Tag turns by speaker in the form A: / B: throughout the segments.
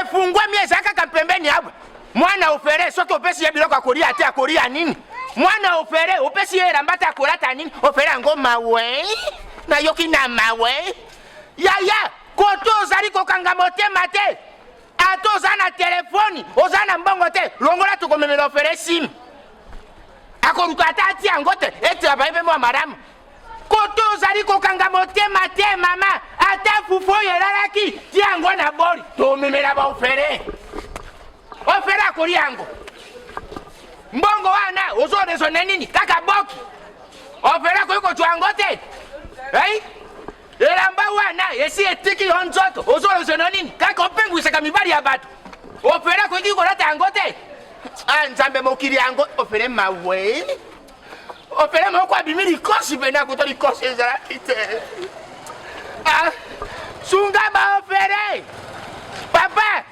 A: efungwami eza kaka mpembeni awa mwana ofere soki opesi ye biloko akolia te akolia nini mwana ofere opesi ye elamba te akolata nini ofere yango mawe nayoki na mawe yaya koto ozali kokanga motema te ata oza na telefoni oza na mbongo te longola tokomemela ofere simi akoluka ata ati yango te ete abaye mpe mwa malamu koto ozali kokanga motema te mama ata fufu oyo elalaki ti yango na boli tomemela baofere ofere akoli yango mbongo wana ozoresone nini kaka boki ofere akoki kozwa yango te ei elamba wana esi etiki yo nzoto ozoresone nini kaka opengwisaka mibali ya bato ofere akoki kolata yango te ah, nzambe mokili yango ofere mawe opele moko abimi likosi mpenza kuta likosi ezalaki te ah, sunga baopere papa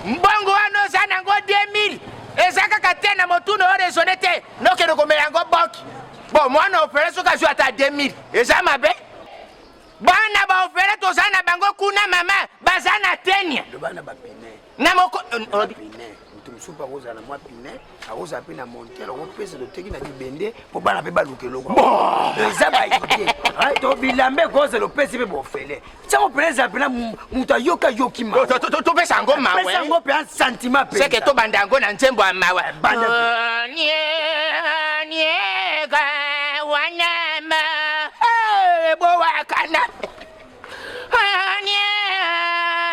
A: mbongo wana oza nango 2000 eza kaka te na motuna oyo resone te nokende komela yango boki bo mwana opere soki azwi ata 2000 eza mabe bana baopere toza na bango kuna mama baza na tenia na moko moto mosusu
B: mpe akozala na mwa pine akozala mpe na montere okopesa loteki na bibende mpo bana mpe baluka eloko eza baidie to bilamba ekozala opesi mpe bofele ntango mpena ezala mpena moto ayoki ayoki matopesa yango
A: mapesa yango mpe santima
B: peseke tobanda yango
A: na
B: nzembo
A: ya mawa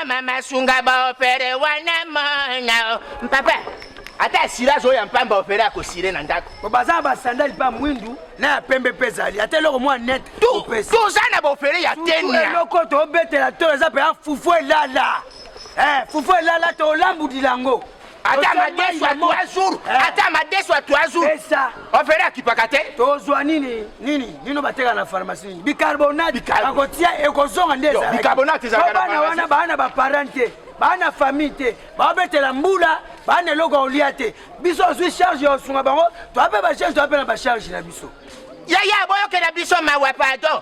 A: mama sunga baopere wana mona papa ata asirage oyo ya mpamba opere akosire na ndako po baza na basandali
B: mpa mwindu na ya pembe mpe ezali ata eloko mwa net toza
A: na baopere ya tenia eloko tobetela
B: to eza mpe ya fufu elala eh, fufu elala tolambudila yango ata madesu
A: ya trois jours eh. ata madesu ya trois jours ofere akipaka
B: te
A: tozwa nini
B: nini nino bateka na pharmacie nini bicarbonate akotia ekozonga nde ezalakibana
A: wana baa na
B: baparent te baa na famille te baobetela mbula baa na eloko olia te biso ozwi charge ya osunga bango toape bacharge toape na bacharge na biso yaya boyokela
A: biso mawa pardon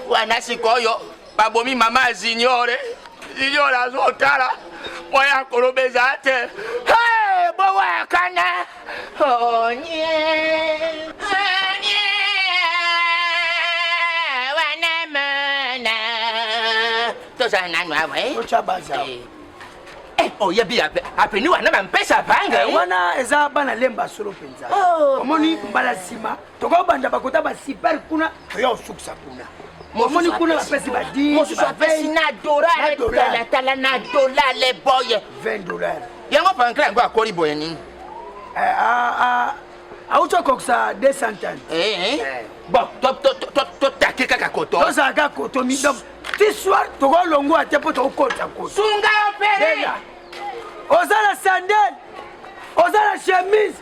A: wana sikoyo babomi mama ya zinyore zinyore azotala mpo ya koloba eza te bowakana onye tozala nanu awa oyebi oh, apeni wana bampesa banga eh? wana eza bana
B: lemba solo mpenza oh, omoni mbala nsima tokobanda bakota basiper kuna toya kosukisa kuna omoni kuna bapesi badimosusu apesi
A: na dolartalatala na dolar le boye 20 dolar
B: yango pankra yango
A: akoli boye nini eh, ah, ah.
B: auti okokisa 200 eh, eh.
A: bon totake kaka koto tozala kaka koto midom
B: ti soir tokolongwa te mpo tokokota koto
A: sunga
B: opere oza na
A: sandale
B: oza na chemise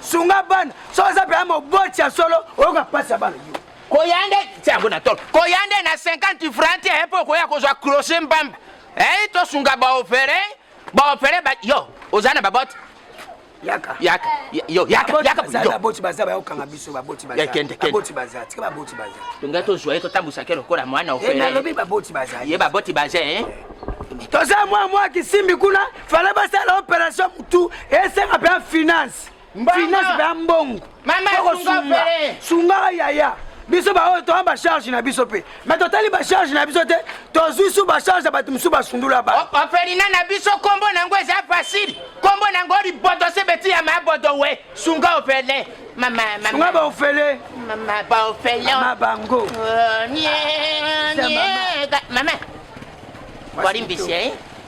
B: sunga bana so oza mpenza moboti ya solo oyoka mpasi ya bana yo
A: koya nde ti yango na tolo koya nde na 50 franc te mpo okoya kozwa crochet mbamba ei tosunga baopere baopere ba yo oza na babote yaka
B: yaka yo
A: yaka yaka yo baboti
B: baza ba yokanga biso baboti baza kende kende baboti baza tika baboti baza tunga to joye to tambusa
A: kero kola mwana ofela eh, ye lobi baboti baza
B: ye baboti baza eh
A: toza
B: mwa mwa kisimbi kuna fale basala operation mutu esenga mpe ya finance finance mpe ya mbongo okosunga
A: sungaka yaya
B: biso baoyo toya bacharge na biso mpe me totali bacharge na biso te tozwi su bacharge ya bato mosusu basundula ba ofelina na biso
A: nkombo na yango eza fasile nkombo na yango liboto se beti ya mabodo we sunga ofele sunga baofele baofelema bango mama bolimbisi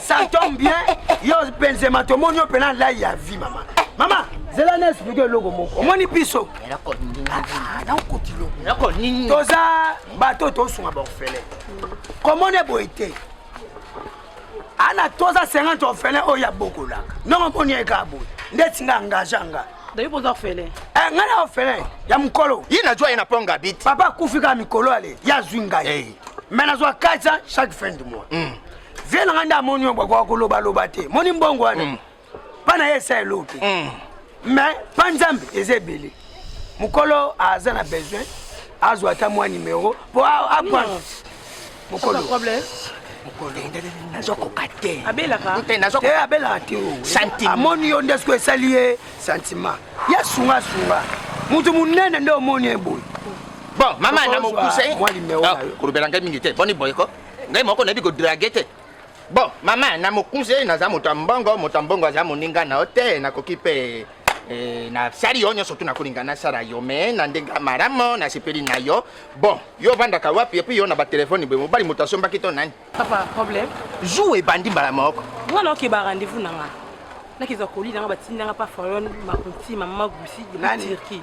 B: Santom bien, yo Benzema tomoni yo pena lai ya vie mama. Mama, zela na expliquer eloko moko. Omoni biso. Toza
A: bato
B: tosunga ba orphelin. Komone boye te. Ana toza 50 orphelin oyo ya bokolaka. Ndongo moni eka boye. Ndeti nga engage nga. Dayo boza orphelin.
C: Eh, nga na orphelin
B: ya mukolo. Ye na jwa ye na ponga
A: bit. Papa kufika mikolo
B: ale. Ya zwinga ye. Hey. me nazwa 400 chaque fin du mois mm. vie na ngai nde amoni yo bwakoka kolobaloba te moni mbongo wana mm. mpa na ye esa eloo te mm. me mpa nzambe eza ebele mokolo aza na besoin azwa ata mwa nimero mpo akwa mokolo
C: nazokoka
B: te abelaka
C: te abelaka
A: te
B: oh. amoni yo
A: nde soki
B: esali ye sentiment ya sungasunga moto monene nde omoni ye boye bon mama
A: na mokuse ah,
B: kolobela ngai mingi te
A: boni boye ko ngai moko nayebi kodrage te bon mama na mokuse naza moto ya mbongo moto ya mbongo aza moninga na yo te nakoki mpe eh, nasali yo nyonso tu nakolinga nasala yo me na ndenge ya malamu nasepeli na yo bon yo ovandaka wapi epui yo na batelefone boye mobali moto asombaki to nani papa problème
C: jour ebandi
A: mbala moko nga naoke ba rendez-vous
C: na nga nakeza kolina nga batindanga pa farion makonti mama gusi na turquie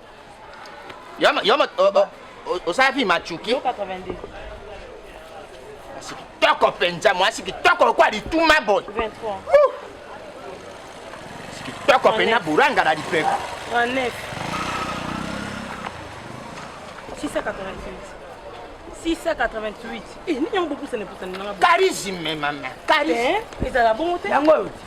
A: Yama yama osafi machuki.
C: Asi
A: kitoko penza mwasi kitoko kwa lituma boy. 23. Kitoko penza buranga la lipeko. 39. 688. 688
C: eh, nini yango bopusana epusana nanga charisme mama
A: charisme eh, ezala bongo te
C: yango oyo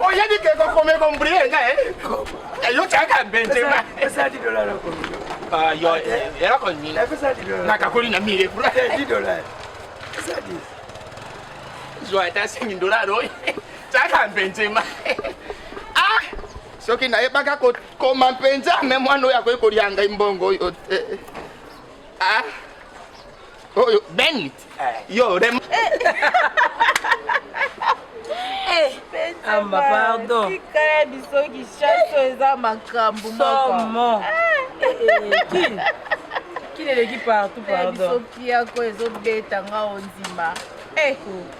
A: oyebi ke kokome kombrie nga yo tiaka benzema
B: yo
A: eloko nini nakakoli
B: na mire pura zwa ata sengi
A: dollar oyo tiaka benzema ah soki nayebaka kokoma mpenza me mwana oyo akoki kolia ngai mbongo oyo te ah Oh, yo, Benit. Eh. Yo, Rem. Eh.
C: eh. Amba, ah, pardon. Tikala biso
D: ki chaso eza makambo moko. Somo.
C: Kin. Kin eleki partout, pardon. Biso pia ko
D: ezobeta nga ondima. Eh.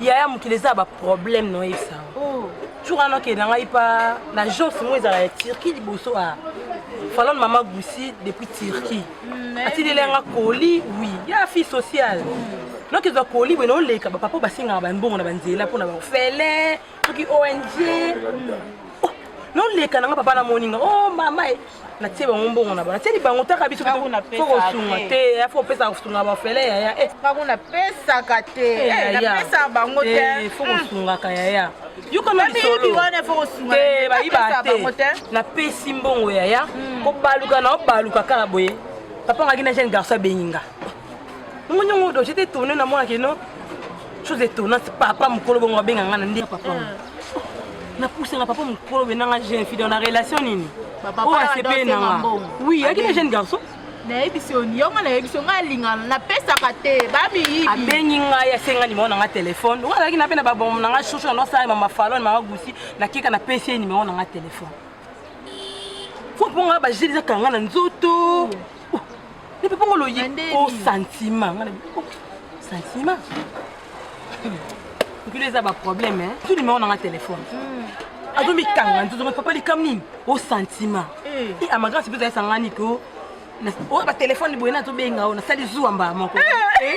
C: yaya mokili eza ba problème no yebisa oh. jour wana okende na ngai pa na agence moko ezala ya turquie liboso a falone mama gusi depuis turquie mm, atindeli yanga koli wi ya fille sociale mm. noki ezwa koli boye naoleka bapapa basengaka bambongo na banzela mpo na bafele soki ong mm. oh, noleka na nga papa namoni nga o oh, mama natie bango mbongo na bana tieli bango taka biso fo kosunga te ya fo opesaka kosunga bafele yaya eh. bango napesaka
D: te eh, eh,
C: napesaka bango te fo hmm. kosungaka yaya yokomabayiba te napesi mbongo yaya hmm. kobaluka na obaluka kaka boye papa ngaki na jeune garçon abengi nga ngo nyongo odo j'étais étonné na mwana keno chose étonnante papa mokolo bongo abenga nga na nde papa ah. napusanga papa mokolo benanga jeune fille na relation nini oyo asepeli
D: na nga
C: oui ayaki na jeune garçon nayebisi yo
D: yo nga nayebisi yo nga alingana napesaka te bamiyibi abengi ngai asenga
C: nimero na nga telefone oyo azalaki nape na babongo na nga shosho na nosala mama falo na mama gusi nakeka napesi ye nimero na nga telefone fo mpo nga bajeli ezakanga na nzoto Nipipongo loye o sentiment. Sentiment. Nkule eza ba problème hein. Tu numéro na nga téléphone. Hmm. Azo mi kanga nzozo ma papa likam nini? O sentiment. Eh. Et à ma grande sibeza esanga ni ko. O ba téléphone boye na to benga o na sali zuwa mba moko. Eh.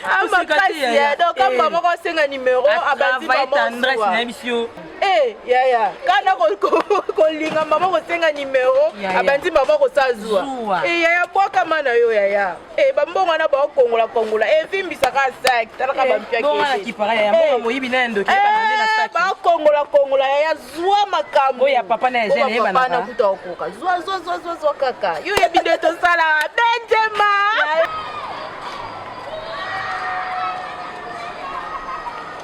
D: Ah, makasi ya donc kamba eh. moko asenga numero abandi mama tendresse na biso
C: Eh, yaya
D: kana kolinga mama kosenga nimero abandi mama kosa zuwa eh, yaya bwakama na yo yaya eh, bambongo wana baokongola kongola evimbisaka saki talaka
C: bampiakibakongola kongola
D: yaya zwa makambo ya papa na
C: kuta okoka zwa
D: zwa zwa zwa zwa kaka yo yebi nde tosala benjema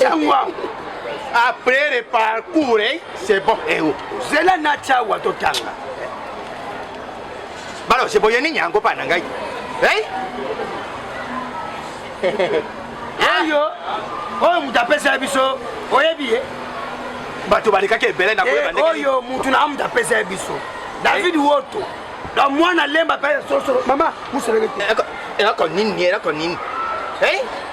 A: Chawa après le parcours eh, c'est bon eh, oh. zela na
B: chawa totanga
A: balo seboye nini yango mpa na ngai eh?
B: oyo oyo moto apesela biso oyebi ye
A: bato balekaki ebele na koyeba ndenge oyo moto na
B: moto apesela biso david woto na mwana lemba mpe solosolo mama mosoleke te eloko
A: nini eloko nini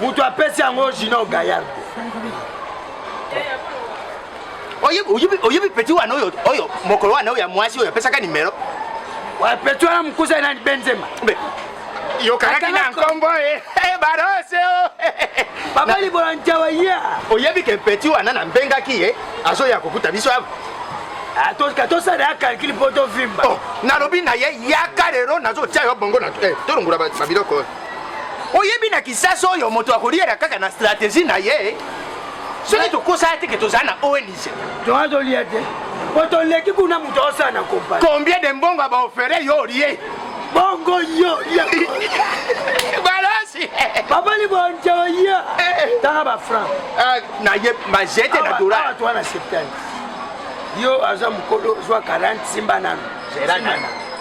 B: moto apesi yango junior gayard
A: oyebi peti wana oyo oyo mokolo wana oyo ya mwasi oyo apesaka nimero
B: peti wana mokusa nani benzema
A: yokanaki na nkombo e eh, barose o
B: papa libola njawa ya oyebi ke peti
A: wana nambengaki ye azoya kokuta biso awa atoka
B: tosala ya calcule mpo tovimba oh, nalobi na ye
A: yaka lelo nazotia yo bongo eh, tolongola babiloko oyebi na kisasa oyo moto akoliaka kaka na strategie na ye soki tokosala te ke tozala na ong toa tolia te
B: po toleki kuna moto osala na kompani combien de mbongo
A: baofere yo olie bongo
B: yo
A: balosi papa
B: libonja oye tanga bafranc naye
A: majete na dola toa na
B: septante yo aza mokolo zwa 40 simba nano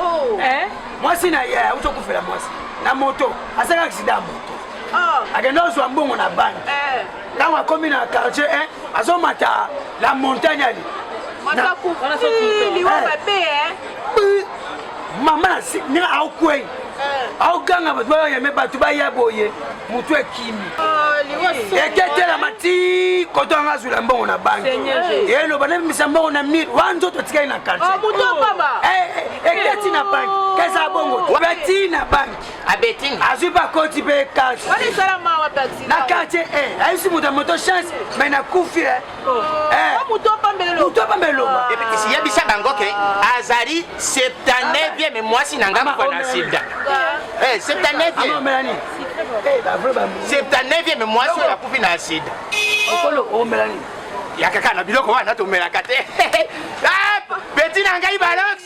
B: oh. eh?
D: mwasi na
B: ye auti okufela mwasi na moto asaka aksida ya moto oh. akenda ozwa mbongo na banki eh. ntango akomi na quartier 1 azomata la montagne ali
D: mama
B: ndenge aokwei aoganga bato bayeme bato baya boye motu ekimi ah,
D: eketelama ti
B: koto anga azwila mbongo na banki eno banabimisa mbongo na mire wana nzoto etikali na kartieketi ah,
D: eh, eh, eh,
B: na banki keza bongo abeti na banki azwi mpe
A: akoti mpe
B: kasi
D: na kartier
B: ayisi moto ya moto chance mai nakufi yebisa
A: bango ke azali 79e mwasi na ngai mokwa na sida
B: 79e 79e mwasi
A: oyo akufi na sida
B: yakaka na
A: biloko wana tomelaka te beti na ngai balox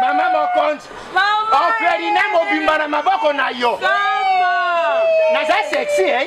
A: mama mokonzi ofelina mobimba na maboko na yo naza sexy eh?